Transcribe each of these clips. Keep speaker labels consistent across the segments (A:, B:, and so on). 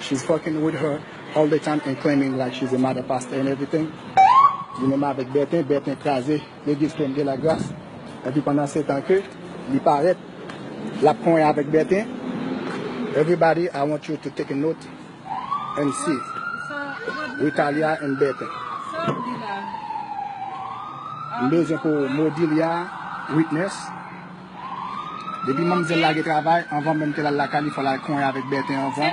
A: She's fucking with her all the time and claiming like she's a mother pastor and everything Li menm avèk Bertin, Bertin kraze legliz Pèm de la Gras epi pandan se tan ke li parèt lap konyen avèk Bertin Everybody I want you to take a note and see Rithalia and Bertin M bezwen pou Modilia witness Depi manmzèl lage travay, anvan menm ke l al lakay li fò l al konyen avèk Bertin anvan.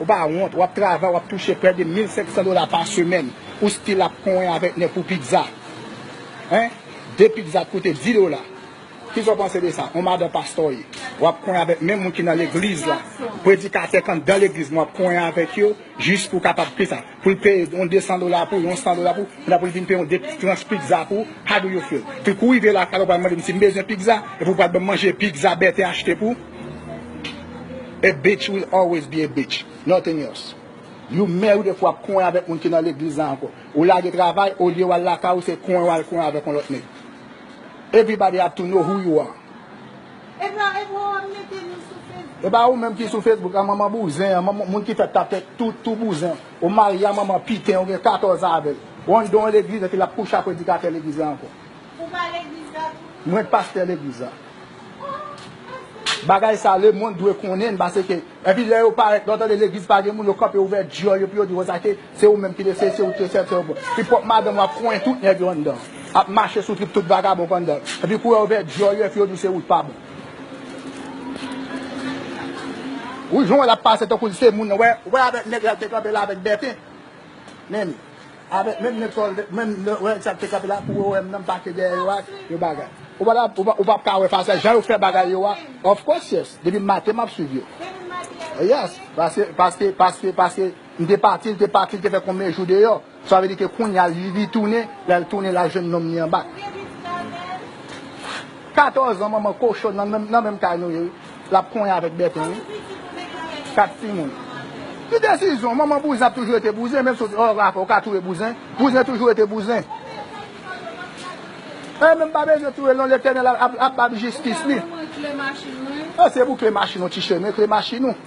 A: Ou pa wont, wap travay, wap touche près de 1500 dola pa semèn, ou still ap konwen avèk nèg pou pizza. Hein? 2 pizza t koute 10 dola. Kisa w panse de sa? On madan pastè w ye, wap konwen avèk menm moun ki nan legliz la, predikatè k anndan legliz m wap konwen avèk yo jis pou w kapab pizza. Pou l peye yon 200 dola pou ou, yon 100 dola pou ou, epi pou l vin peye yon 2 tranch pizza pou ou, how do you feel? Pou l kou rive lakay la ou pral mande m si m bezwen pizza, epi ou pral ban m manje pizza Berthe achte pou ou? A bitch will always be a bitch, nothing else. You married epi w ap kouwen avèk moun ki nan legliz la ankò. Ou lage travay, olye w al lakay ou se kouwen w al kouwen avèk yon lòt nèg. Everybody have to know who you are. Epa ou menm ki sou Facebook an manman bouzen an manman moun ki fèt ta fèt tout tou bouzen ou marye a manman piten ou gen 14 ans avèl ou an don legliz epi lap kouche a predikatè legliz la ankò
B: mwen k pastè legliz
A: la bagay sa le mond dwe konnen l paseke epi lè yo parèt lè yo tande legliz pa gen moun yo kanpe ouvè dyòl yo pou yo di wè sa ke Se ou menm ki de se isi ou te fèt se ou pou pi pwòp madanm wap konyen tout nèg yo anndan ap mache sou trip tout vagabon pandan epi kouwè ouvè dyòl yo epi yo di se ou t pa bon wi jan wè lap pase tankou li se moun nan wè wè avèk nèg lal te kanpe la avèk bèten menli avèk menm nèg sa menm wè nèg sa ki te kanpe la pou wèm nan mpase dèyè yo ak yon bagay ou pata ou pap ka wè fas la jan yo fè bagay yo a of course yes depi maten map swiv yo yes paske paske paske paske. M te pati, l te pati, l te fè konbyen jou deyò. Sa vle di ke kounya li tounen, lè l tounen la jwenn nonm li anba. 14 an manman kochon nan menm kay nou ye wi. L ap konyen avèk Bèten wi. 4 timoun. Ki desizyon? Manman bouzen ap toujou rete bouzen menm si ou ka touye bouzen, bouzen toujou rete bouzen. Eee men m pa bezwen touye l non, Letènèl ap ba m jistis li. Mwen mwen kle machin mwen. Pase pou kle machin ou ti chè, men kle machin ou.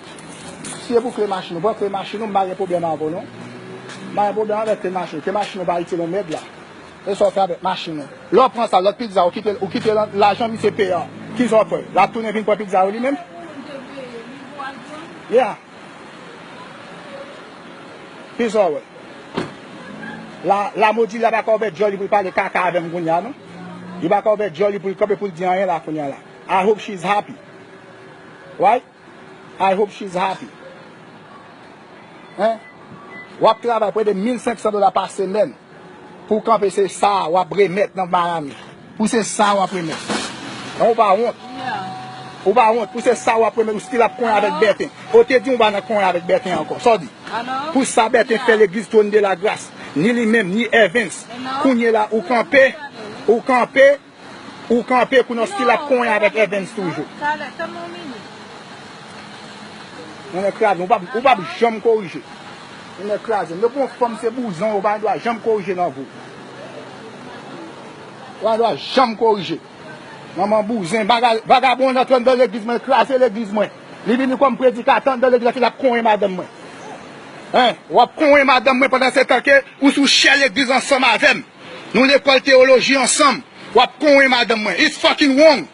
A: Siye pou kle machin ou pran kle machin ou m pa gen pwoblèm avè w non m pa gen pwoblèm avè kle machin ou kle machin ou pa itil yon mèd la e sa w fè avèk machin ou lè w pran sa lòt pizza ou kite l ou kite l an lajan misye peye an ki sa w fè l ap tounen vin pran pizza yo li menm yeah ki sa w wè la la modi la pa ka ouvè dyòl li pou l pale kaka avè m kounye a non li pa ka ouvè dyòl li pou l kanpe pou l di anyen la kounye a la I hope she is happy right. I hope she's happy Hein Wap travay pou ede 1500 dola pa semèn Pouw kanpe se sa wap remèt nan Miami Pou se sa wap remèt Hein ou pa wont Ou pa wont pou se sa wap remèt ou still ap konyen avèk Bertin Oh te diw ou pa nan konyen avèk Bertin ankò Sa w di Pou sa Bertin fè legliz Trône de la Grâce Ni li menm ni Evens Kounyela ou kanpe Ou kanpe Ou kanpe kou nan stil ap konyen avèk Evens toujou. Talè, tanmen yon minit. Nènè kraze, ou pap janm korije. Nènè kraze, depi yon fanm se bouzon ou pa gen dwa janm korije nan vi w. Ou pa gen dwa janm korije. Manman bouzen, vagabon antre andan legliz mwen, kraze legliz mwen. Li vini kòm predikatè andan legliz la epi l ap konyen madanm mwen. Hein, w ap konyen madanm mwen pandan se tan ke ou sou chè legliz ansanm avè m. Nou lekòl théologie ansanm wap konwen madanm mwen it's fucking wrong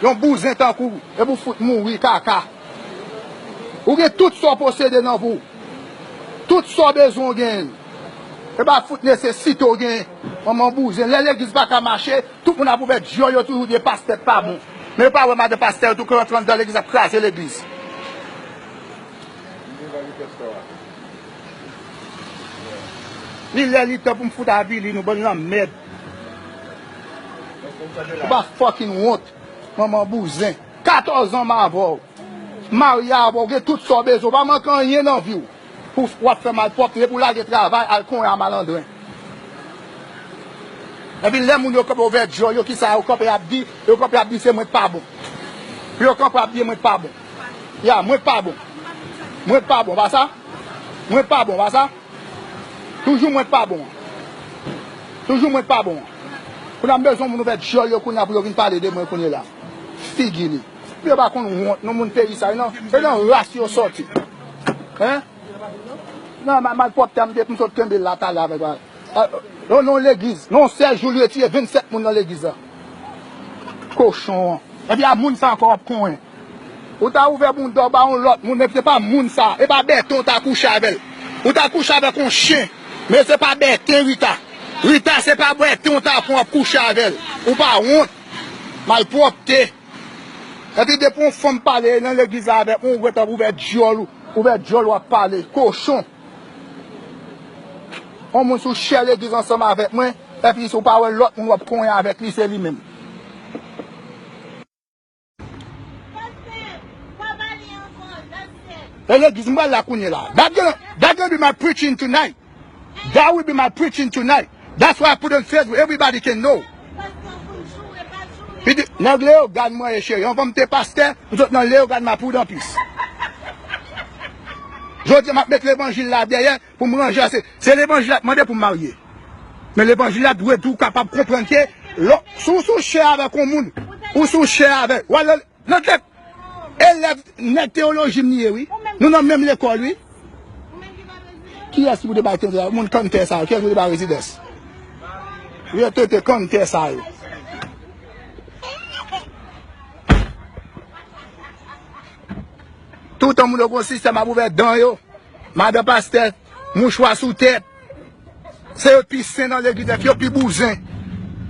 A: yon bouzen tankou w epi w fout mouri kaka ou gen tout sa w posede nan vi w tout sa w bezwen w genyen l e pa fout nesesite w genyen manman bouzen lè legliz paka mache tout moun ap ouvè dyòl yo toujou di pastè pa bon men yo pa wè madan pastè yo tou kran tran nan legliz ap kraze legliz. Li lè li tan pou m fout avili nou bann lanmèd. Ou pa fucking wont manman bouzen. 14 ans m avè w. M marye avè w, ou gen tout sa w bezwen, ou pa manke anyen nan vi w. Pou w ap fè malpwòpte, pou w lage travay al konyen a malandren. Epi lè moun yo kanpe ouvè dyòl yo kisa yo kanpe ap di, yo kanpe ap di se mwen k pa bon. Pou yo kanpe ap di mwen k pa bon. Ya mwen pa bon Mwen pa bon pa sa Mwen pa bon pa sa Toujou mwen pa bon Toujou mwen pa bon Kounya m bezwen moun ouvè dyòl yo kounya pou yo vin pale de mwen kounye la Figi li Pou yo pa konn wont non moun peyi sa yo nan Se nan ras yo sòti Hein Nan malpwòpte a m te m sot kenbe l la talè avèk la Yon non legliz Non yon sèl jou l retire 27 moun nan legliz la Kochon an Ebyen a moun sa ankò w ap konyen. Ou ta ouvè bounda w ba yon lòt moun men se pa moun sa, e pa Bertho ou ta kouche avè l. Ou ta kouche avèk yon chen, men se pa Bertin Rita. Rita se pa Bertin ou ta pran w ap kouche avè l. Ou pa wont. Malpwòpte. Epi depi yon fanm pale nan legliz la avèk ou, ou gentan ap ouvè dyòl ou, ouvè dyòl ou ap pale. Kochon. Yon moun sou chè legliz ansanm avèk mwen, epi ou pa wè lòt moun w ap konyen avèk li se li menm. E legliz m pral la kounye la. That gonna be my preaching tonight. That will be my preaching tonight. That's why I put on Facebook. Everybody can know. He did. Nèg le yo gad mwen ye cheri. Yon fòm te pastè. Ou sot nan le yo gad ma poud an pis. Jodi m ap met levanjil la dèyè. Pou m ranje a, se levanjil la k mande pou m marye. Men levanjil la dwe tou kapab konprann ke lò si w sou chè avèk yon moun, ou sou chè avè w al nan tèt elèv nèg teyoloji m ye wi, nou nan menm lekòl wi. Kiyès ki pou te bay tenten sa yo? Moun kanntè sa yo. Kiyès ki pou te bay rezidans? Vye tenten kanntè sa yo. Toutan moun yo gon sistèm ap ouvè dan yo, madan pastè, mouchwa sou tèt. Se yo pi sen nan legliz nèt yo pi bouzen.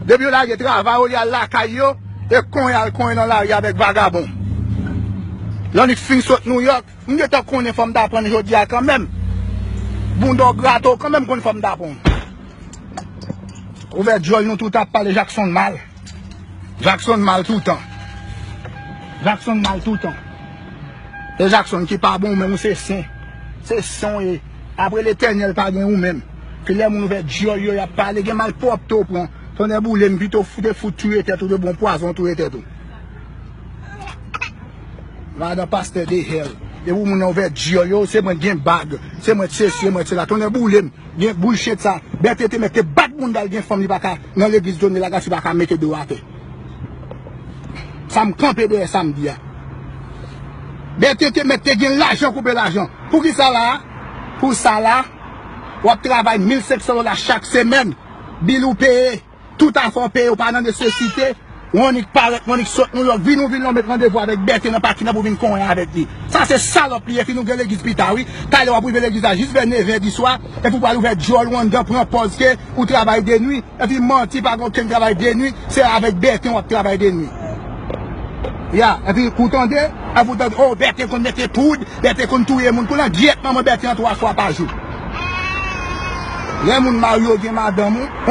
A: Depi yo lage travay olye al lakay yo, e konyen al konyen nan lari avèk vagabon. Lannik fin sot Nouyòk, m gentan konnen fò m ta prann jodi a kanmenm. Bounda w grate w kanmenm konn fò m ta pran w. Ouvè dyòl nou tout ap pale Jakson mal. Jackson mal toutan. Jackson mal toutan. E Jackson ki pa bon menm ou se sen. Se sen ou ye. Apre letènèl pa gen ou menm. Ke lè moun ouvè dyòl yo yap pale gen mal pwòpte ou pran. Tonnè boule m pito ou te fout touye tèt ou de bon pwazon touye tèt ou. Madan pastè de hell. Depi moun nan ouvè dyòl yo se mwen gen bag. Se mwen t se si e mwen t se la. Tonnè boule m. Gen bouchet sa. Bète te mèt te bat moun dal gen fanm li pa ka. nan legliz Johnny Lagartie pa ka mete do atè sa m kanpe dèyè sa m di a Berthe te mèt te gen lajan koupe lajan pou ki sa la a pou sa la a w ap travay 1500 dola chak semèn bil ou peye tout afè w peye ou pa nan nesesite Ou annik parèt, ou annik sot New York, vin ou vin la ou met randevou avèk Berthe nan pakin an pou vin konwen avèk li. Sa se salòp li ye fin ou gen legliz pita wi. Talè wap rive legliz la jis vè 9 è di swa epi ou pral ouvè djòl ou anndan pran pòz ke ou travay de nwi epi manti pa gen okenn travay de nwi se avèk Berthe wap travay de nwi. Ya epi ou tande epi ou tande oh Berthe konn mete poud, Berthe konn touye moun kounye an gyèt manman Berthe an 3 fwa pa jou. Lè moun marye ou gen madanm ou.